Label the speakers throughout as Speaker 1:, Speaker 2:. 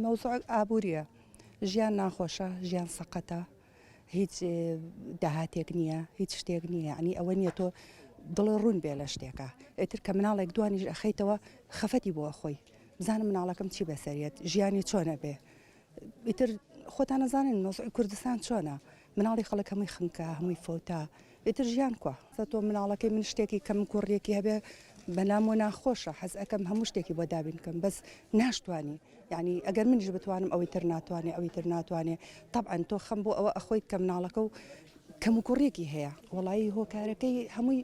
Speaker 1: مەوزوعەک ئابووریە ژیان ناخۆشە ژیان سەقەتە هیچ داهاتێک نییە هیچ شتێک نییە عنی ئەوە نییە تۆ دڵە ڕوون بێ لە شتێکە ئەتر کە مناڵێک دوانیش ئەخیتەوە خەفەتی بۆ خۆی بزانم مناڵەکەم چی بەسەریت ژیانی چۆنە بێ ئیتر خۆتان نەزانن مەوزعی کوردستان چۆنە مناڵی خەڵک هەمووی خنکە هەمووی فەوتا ئیتر ژیان کوە تۆ مناڵەکەی من شتێکی کەم کوڕیەکی هەبێ بەلام و ناخۆشە حەز ئەەکەم هەموو شتێکی بۆ دابین کەم بەس ناشتوانی یعنی ئەگەر منیش بتوانم ئەوەی تر ناتوانێ ئەوی تر ناتوانێ طبعا تۆ خەم بۆ ئەوە ئەخۆی کە مناڵەکە و کەم و کوڕێکی هەیە وڵایی هۆکارەکەی هەمووی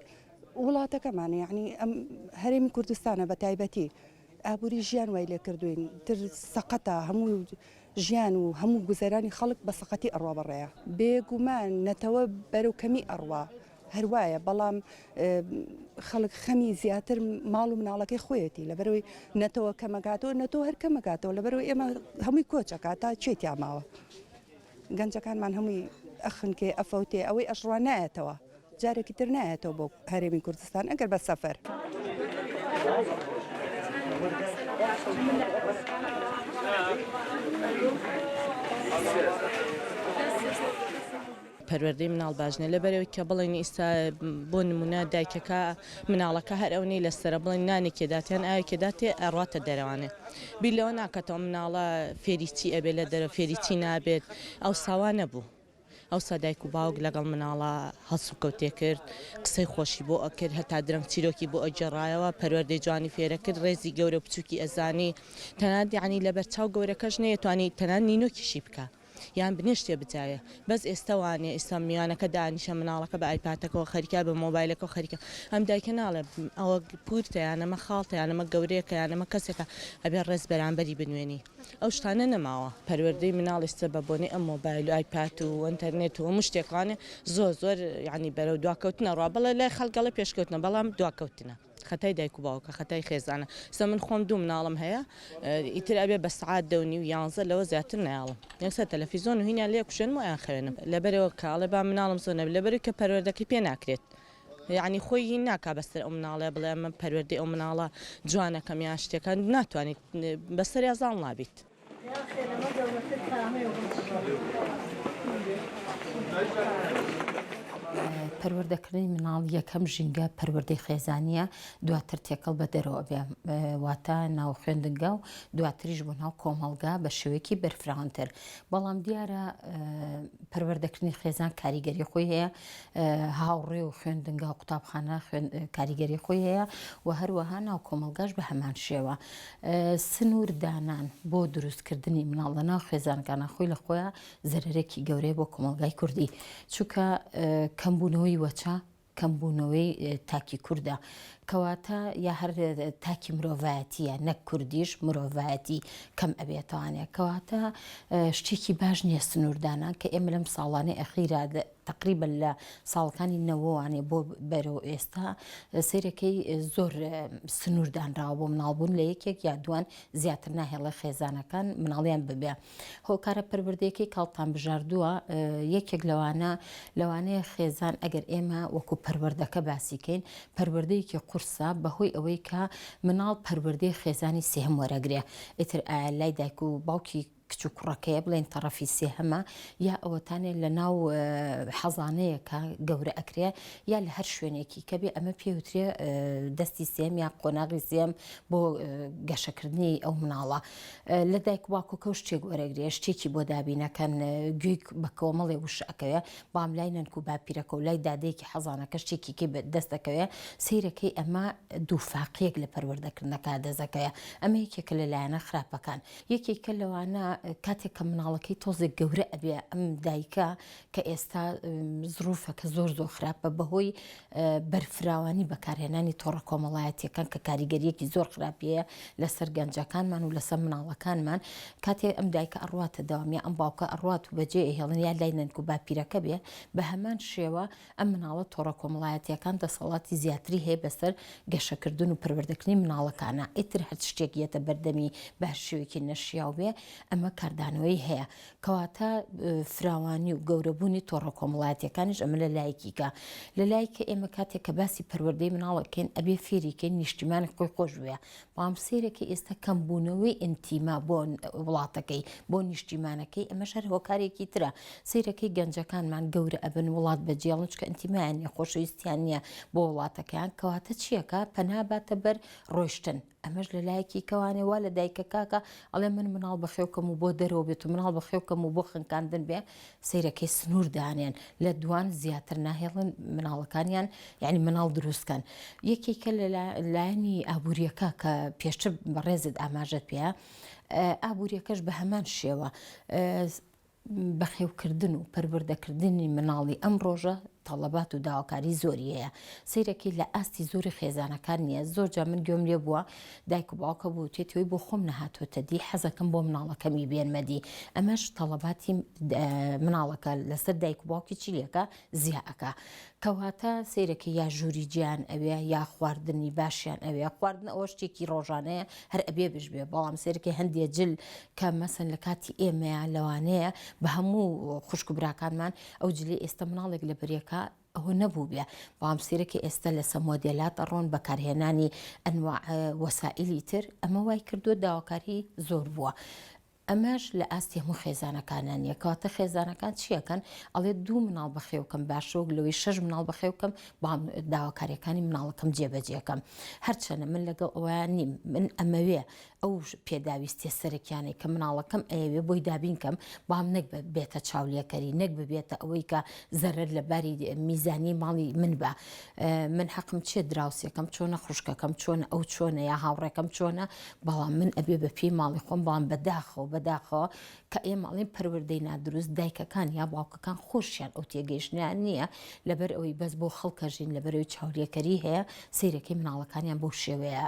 Speaker 1: وڵاتەکەمانە یعنی ئەم هەرێمی کوردستانە بە تایبەتی ئابوری ژیان وای لێکردوین تر سەقەتە هەموو ژیان و هەموو گوزەرانی خەڵک بە سەقەتی ئەڕوا بەڕێیە بێگومان نەتەوە بەرەو کەمی ئەڕوا هەروایە بەڵام خەڵک خەمی زیاتر ماڵ و مناڵەکەی خۆیەتی لەبەرەوەی نەتەوە کەمەکاتەوە نەتەوە هەر کەمەکاتەوە لەبەرەوە ئێمە هەمووی کۆچەکە تا چێتیا ماوە. گەنجەکانمان هەمووی ئەخنکێ ئەفەوتێ ئەوەی ئەشڕوا نایەتەوە جارێکی تر نایەتەوە بۆ هەرێمی کوردستان ئەگەر بە سەفەر.
Speaker 2: پەروەردەی مناڵ باش نیە لەبەرئەوەی کە بڵێن ئیستا بۆ نمونە دایکەکە. مناڵەکە هەر ئەونەی لەسەرە بڵێن نانێکێ دات یان ئاوێکێ داتێ ئەڕاتە دەرەوانێ بیر لەوە ناکاتەوە مناڵە فێری چی ئەبێ لە دەرەوە فێری چی نابێت ئەوسا وا نەبوو ئەوسا دایک و باوک لەگەڵ مناڵە هەڵسوکەوتێ کرد قسەی خۆشی بۆ ئەکرد هەتا درەنگ چیرۆکی بۆ ئەگێڕایەوە پەروەردەی جوانی فێرە کرد ڕێزی گەورە و بچووکی ئەزانی تەنانەت یەعنی لەبەرچاو گەورەکەش نەیەتوانی تەنانەت نینۆکیشی بکا یان بنێشتێ بجاوێ بەس ئێستا وانیە ئێستا میوانەکە دانیشە مناڵەکە بە ئایپاتەکەوە خەریکە بە مۆبایلەکەەوە خەریکە ئەم دایکە ناڵێ ئەوە پورتە یان ئەمە خاڵتە یان ئەمە گەورەیەکە یان ئەمە کەسێکە ئەبێ ڕێز بەرامبەری بنوێنی ئەو شتانە نەماوە پەروەردەی مناڵ ئێستا بە بۆنەی ئەم مۆبایل و ئایپات و ئەنتەرنێت و هەموو شتێکانێ زۆر زۆر یعنی بەرەو دواکەوتنە ڕا بەڵێ لای خەڵک گەڵێ پێشکەوتنە بەڵام دواکەوتنە خەتای دایک و باوکە خەتای خێزانە سە من خۆم دوو مناڵم هەیە ئیتر ئەبێ بە سعات دە و نیو یانزە لەوە زیاتر نایاڵم یەک سەر تەلەفیزۆن و هینیان لێ کوشێنم و ئەیانخەوێنم لەبەرەوە کە ئەڵێ با مناڵم زۆر نەبێ لەبەرەوەی کە پەروەردەکەی پێ ناکرێت یعنی خۆی هین ناکا بەسەر ئەو مناڵە بڵێ ئەمە پەروەردەی ئەو مناڵە جوانەکەم یان شتێکان ناتوانیت بەسەریا زاڵ نابیت.
Speaker 3: پەروەردەکردنی مناڵ یەکەم ژینگە پەروەردەی خێزانیە دواتر تێکەڵ بە دەرەوە بێ واتە ناو خوێندنگا و دواتریش بۆ ناو کۆمەڵگا بە شێوەیەکی بەرفراونتر بەڵام دیارە پەروەردەکردنی خێزان کاریگەری خۆی هەیە هاوڕێ و خوێندنگا و قوتابخانە کاریگەری خۆی هەیە و هەروەها ناو کۆمەلگاش بە هەمان شێوە سنوور دانان بۆ دروست کردنی مناڵ لە ناو خێزانەکانا خۆی لە خۆیا زەرەرێکی گەورەیە بۆ کۆمەڵگای کوردی چونکە کەمبوونەوەی وەچە کەمبوونەوەی تاکی کووردە کەواتە یا هەر تاکی مرۆڤایەتیە نەک کوردیش مرۆڤایەتی کەم ئەبێتوانێت کەواتە شتێکی باش نییە سنووردانان کە ئێمە لەم ساڵانە ئەخیرا تەقریبەن لە ساڵەکانی نەوەوانێ بۆ بەرەو ئێستا سیرەکەی زۆر سنوور دانراوە بۆ مناڵبوون لە یەکێک یا دوان زیاتر ناهێڵێ خێزانەکان مناڵیان ببێ هۆکارە پربردێکی کاڵتان بژاردووە یەکێک لەوانە لەوانەیە خێزان ئەگەر ئێمە وەکو پەروەردەکە باسیکەین پەروەردەیەکی قورسە بەهۆی ئەوەی کە مناڵ پەروەردەی خێزانی سێهم وەرەگرێ ئیتر ئایا لای دایک و باوکی کچ و کوڕەکەیە بڵێن تەڕەفی سێهەمە یا ئەوەتانێ لە ناو حەزانەیەکە گەورە ئەکرێ یا لە هەر شوێنێکی کە بێ ئەمە پێوترێ دەستی سێم یا قۆناغی سێم بۆ گەشەکردنی ئەو مناڵە لە دایک باکۆکە شتێک وەرەگرێ شتێکی بۆ دابینەکەن گوێی بە کۆمەڵێ وش ئەکەوێ بام لای نەنک و باپیرەکە و لای دادێکی حەزانەکە شتێکی دەستەکەوێ سیرەکەی ئەمە دووفاقیەک لە پەروەردەکردنەکە دەزەکەیە ئەمە یەکێکە لە لایەنە خراپەکان یەکێکە لەوانە کاتێک کە مناڵەکەی تۆزێک گەورە ئەبێ ئەم دایکە کە ئێستا زروفە کە زۆر زۆر خراپە بەهۆی بەرفراوانی بەکارهێنانی تۆڕە کۆمەڵایەتیەکان کە کاریگەریەکی زۆر خراپیە لەسەر گەنجەکانمان و لەسەر مناڵەکانمان کاتێ ئەم دایکە ئەڕاتە داوامی ئەم باوکە ئەڕات و بەجێ هێڵن یا لای نەنک و باپیرەکە بێ بە هەمان شێوە ئەم مناڵە تۆڕە کۆمەڵایەتیەکان دەسەڵاتی زیاتری هەیە بەسەر گەشەکردن و پەروەردەکردنی مناڵەکانا ئیتر هەرچ شتێک یەتە بەردەمی بە هەر شێوەیەکی نەشیاو بێ ئەمە کاردانەوەی هەیە کەواتە فراوانی و گەورەبوونی تۆڕە کۆمەڵایەتیەکانیش ئەمە لە لایەکیکە لە لایکە ئێمە کاتێک کە باسی پەروەردەی مناڵەکەین ئەبێ فێریکەین نیشتیمانی خۆی خۆش بوێ هەمسەیرەکەی ئێستا کەمبوونەوەی ئینتیما بۆ وڵاتەکەی، بۆ نیشتیمانەکەی، ئەمەش هەر هۆکارێکی ترە. سەیرەکەی گەنجەکانمان گەورە ئەبن وڵات بەجێڵن چکە ئینتیمایان نیە، خۆشەویستیان نیە بۆ وڵاتەکەیان، کەواتە چیەکا؟ پەنا باتە بەر ڕۆیشتن. ئەمەش لە لایەکی کەوانێ وا لە دایکەکاکە ئەڵێ من مناڵ بەخێوکەم و بۆ دەرەوە بێت و مناڵ بەخێوکەم و بۆ خنکاندن بێ، سەیرەکەی سنور دانێن لە دوان زیاتر ناهێڵن مناڵەکانیان یعنی مناڵ دروستکەن یەکێکە لە لایەنی ئابووریەکە کە پێشتر بەڕێزت ئاماژەت پێە ئابووریەکەش بە هەمان شێوە بەخێوکردن و پەروەردەکردنی مناڵی ئەم ڕۆژە تەڵەبات و داواکاری زۆری هەیە سیرەکی لە ئاستی زۆری خێزانەکان نییە زۆر جا من گوێم لێ بووە دایک و باوکە بوتێتی وەی بۆ خۆم نەهاتۆتە دی حەزەکەم بۆ مناڵەکەمی بێنمە دی ئەمەش تەڵەباتی مناڵەکە لەسەر دایک و باوکی چیلەکە زیاکە کەواتە سیرەکە یا ژووری جیان ئەوێ یا خواردنی باشیان ئەوێ خواردن ئەوە شتێکی ڕۆژانەیە هەر ئەبێ بش بێ بەڵام سێرکی هەندێ جل کە مەسن لە کاتی ئێمەیان لەوانەیە بە هەموو خوشک براکانمان ئەو جلی ئێستا مناڵێک لە بریەکە ئەوە نەبووبێ بەڵام سەیرە کە ئێستا لەسە مۆدێلات ئەڕۆن بەکارهێنانی ئەنواع وەسائیلی تر ئەمە وای کردووە داواکاری زۆر بووە. ئەمەش لە ئاستی هەموو خێزانەکانە نییە کەواتە خێزانەکان چیەکەن ئەڵێ دوو مناڵ بەخێوکەم باشۆک لەوەی شەش مناڵ بەخێوکەم بەڵام داواکاریەکانی مناڵەکەم جێبەجێکەم هەرچەنە من لەگەڵ ئەویان نیم من ئەمەوێ ئەو پێداویستیە سەرەکیانەی کە مناڵەکەم ئەیەوێ بۆی دابین کەم بەڵام نەک بێتە چاولێکەری نەک ببێتە ئەوەی کە زەرەر لە باری میزانی ماڵی من بە من حەقم چێ دراوسێکەم چۆنە خوشکەکەم چۆن ئەو چۆنە یا هاوڕێکەم چۆنە بەڵام من ئەبێ بە پێی ماڵی خۆم بەڵام بەداخەوە بەداخەوە کە ئێمە ئەڵێن پەروەردەی نادروست دایکەکان یا باوکەکان خۆشیان ئەو تێگەیشتنیان نییە لەبەر ئەوەی بەس بۆ خەڵکە ژین لەبەرەوەی چاولێکەری هەیە سیرەکەی مناڵەکانیان بۆ شێوەیە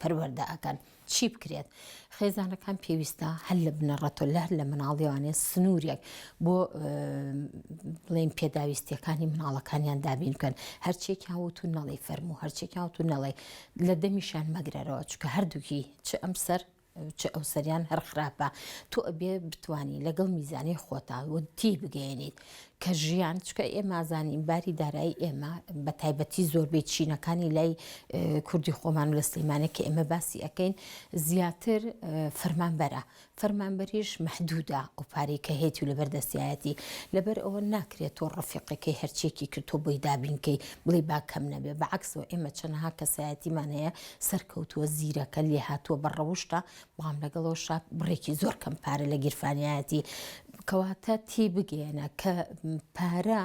Speaker 3: پەروەەردە ئەکەن چی بکرێت خێزانەکان پێویستە هەر لە بنەڕەتۆ لە هەر لە مناڵیوانێ سنوورێک بۆ بڵێن پێداویستیەکانی مناڵەکانیان دابین بکەن هەرچێکیان وت و نەڵی فەرمو هەرچێکیان وت و نەڵێ لە دەمیشان مەگرەرەوە چکە هەردووکی چ ئەم سەر چ ئەوسەریان هەر خراپە تۆ ئەبێ بتانی لەگەڵ میزانی خۆتا و تی بگەێنیت کە ژیان چکە ئێمازانین باری دارایی ئێمە بە تایبەتی زۆربەی چینەکانی لای کوردی خۆمان لە سلیمانە کە ئێمە باسی ئەەکەین زیاتر فەرمانبەرە فەرمانبەریش محدودا ئەو پارەی کە هێتی و لەبەر دەستایەتی لەبەر ئەوە ناکرێت تۆ ڕفیقەکەی هەرچێکی کرد تۆ بۆی دابینکەی بڵی با کەم نەبێ بەعکسەوە ئێمە چەنەها کەسایەتیمان هەیە سەرکەوتووە زیرەکە لێهاتووە بە ڕەوشتە بەڵام لەگەڵەوەشا بڕێکی زۆر کەم پارە لە گیرفانیایەتی کەواتە تێبگەیەنە کە پارە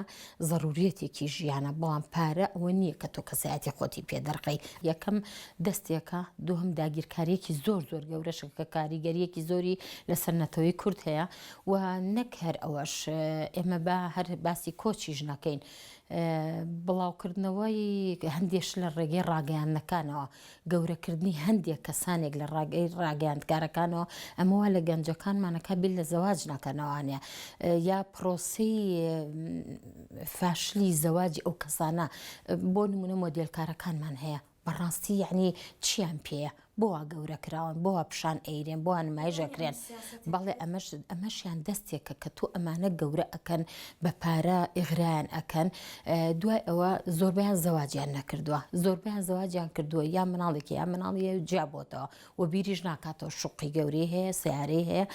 Speaker 3: ضرورەتێکی ژیانە بەڵام پارە ئەوە نییە کە تۆ کەسایەتی خۆتی پێدەرخەی یەکەم دەستێکە دوهم داگیرکاریەکی زۆر زۆر گەورەشە کە کاریگەریەکی زۆری لەسەر نەتەوەی کورد هەیە و نەک هەر ئەوەش ئێمە با هەر باسی کۆچی ژنەکەین بڵاوکردنەوەی هەندێش لە ڕێگەی ڕاگەیاندنەکانەوە، گەورەکردنی هەندێک کەسانێک لە ڕێگەی ڕاگەیاندکارەکانەوە، ئەمە وا لە گەنجەکانمان ئەکات بیر لە زەواج نەکەن ئەوانە یا پرۆسەی فاشلی زەواجی ئەو کەسانە بۆ نموونە مۆدێلکارەکانمان هەیە، بەڕاستی یەعنی چیان پێیە بۆ وا گەورە کراون بۆ وا پیشان ئەیرێن بۆ وا نمایش ئەکرێن بەڵێ ئەمەش ئەمەشیان دەستێکە کە تۆ ئەمانە گەورە ئەکەن بە پارە ئیغرایان ئەکەن دوای ئەوە زۆربەیان زەواجیان نەکردووە زۆربەیان زەواجیان کردووە یا مناڵێکی یا مناڵی جیابۆتەوە و بیریش ناکاتەوە شوقی گەورەی هەیە سیارەی هەیە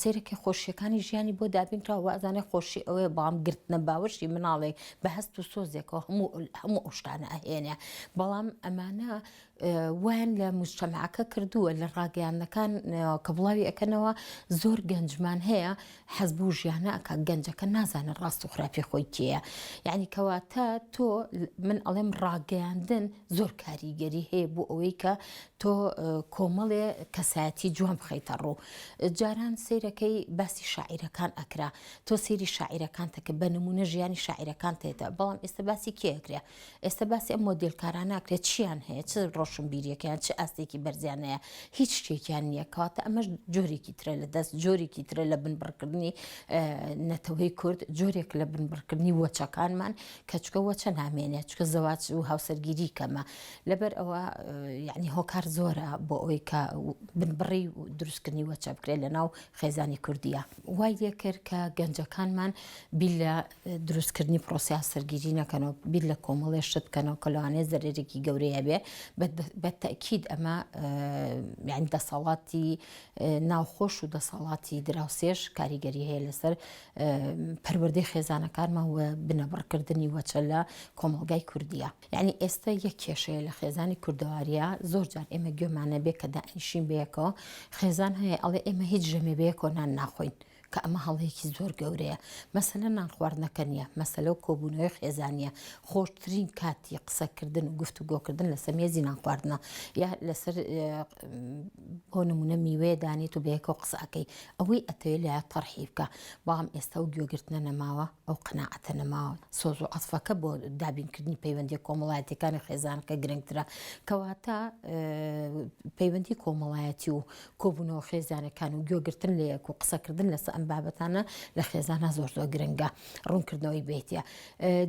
Speaker 3: سێرەکە خۆشیەکانی ژیانی بۆ دابینرا وازانێ خۆشی ئەوەیە بەڵام گرتنە باوەشی مناڵێک بە هەست و سۆزێکەوە هەموو هەموو ئەوشتانە ئەهێنێ بەڵام ئەمانە وان لە مشتەماکە کردووە لە ڕاگەیانەکان کە بڵاوی ئەەکەنەوە زۆر گەنجمان هەیە حەز بو ژیان ناکا گەنجەکە نازانێ ڕاست و خراپی خۆی کێیە یەعنی کەواتە تۆ من ئەڵێم ڕاگەیاندن زۆر کاریگەری هەیە بۆ ئەوەی کە تۆ کۆمەڵێ کەسایەتی جوان بخەیتە ڕوو جاران سیرەکەی باسی شاعیرەکان ئەکرا تۆ سێری شاعیرەکانتە کە بە نمونە ژیانی شاعیرەکان تێتە بەڵام ئێستا باسی کێکرێ ئێستا باسی ئەم مۆدێل کارانە ئەکرێت چیان هەیە چ ڕۆشنبیریەکەیان چ ئاستێکی بەرزیان هەیە هیچ شتێکیان نییە کەواتە ئەمەش جۆرێکی ترە لە دەست جۆرێکی ترە لە بنبڕکردنی نەتەوەی کورد جۆرێک لە بنبڕکردنی وەچەکانمان کەچکە وەچە نامێنێت چکە زەواج و هاوسەرگیری کەمە لەبەر ئەوە یعنی هۆکار زۆرە بۆ ئەوی کە بنبڕی دروستکردنی وەچە بکرێت لە ناو خێزانی کوردیە وای لێ کرد کە گەنجەکانمان بی لە دروستکردنی پرۆسەی هاوسەرگیری نەکەنەوە بیر لە کۆمەڵێ شت بکەنەوە کە لەوانەیە زەرەرێکی گەورەی هەبێ بە تەئکید ئەمە یعنی دەسەڵاتی ناوخۆش و دەسەڵاتی دراوسێش کاریگەری هەیە لەسەر پەروەردەی خێزانەکانمان و بنەبڕکردنی وەچە لە کۆمەڵگای کوردیە یعنی ئێستا یەک کێشەیە لە خێزانی کوردەواریە زۆر جار ئێمە گوێمانە بێ کە دانیشین بەیەکەوە خێزان هەیە ئەڵێ ئێمە هیچ ژەمێ بەیەکۆ نان ناخۆین کە ئەمە هەڵەیەکی زۆر گەورەیە، مەسەلە نان خواردنەکە نییە، مەسەلە کۆبوونەوەی خێزانییە، خۆشترین کاتی قسەکردن و گفتوگۆکردن لەسەر مێزی نان خواردنە، یا لەسەر بۆ نموونە میوەیە دانێیت و بەیەکەوە قسە ئەکەی، ئەوەی ئەتەوێت لایە تەڕحی بکە، بەڵام ئێستا ئەو گوێگرتنە نەماوە، ئەو قەناعەتە نەماوە، سۆز و عەتفەکە بۆ دابینکردنی پەیوەندییە کۆمەڵایەتییەکانی خێزانەکە گرنگترە، کەواتە پەیوەندی کۆمەڵایەتی و کۆبوونەوە خێزانەکان و گوێگرتن لە یەک و قسەکردن لەسە ئەم بابەتانە لە خێزانە زۆر زۆر گرنگە ڕوونکردنەوەی بێتە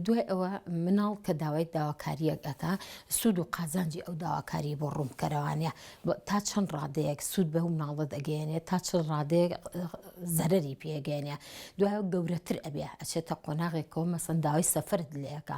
Speaker 3: دوای ئەوە مناڵ کە داوای داواکاریەک ئەکا سوود و قازانجی ئەو داواکاری بۆ ڕوونکەرەوانە تا چەند ڕادەیەک سوود بە مناڵت ئەگەێنێت تا چل ڕادەیەک زەرری پێگەێنە دوای گەورەتر ئەبێ ئەچێتە قۆناغێکەوە مەسەنداوای سەفرت لەکە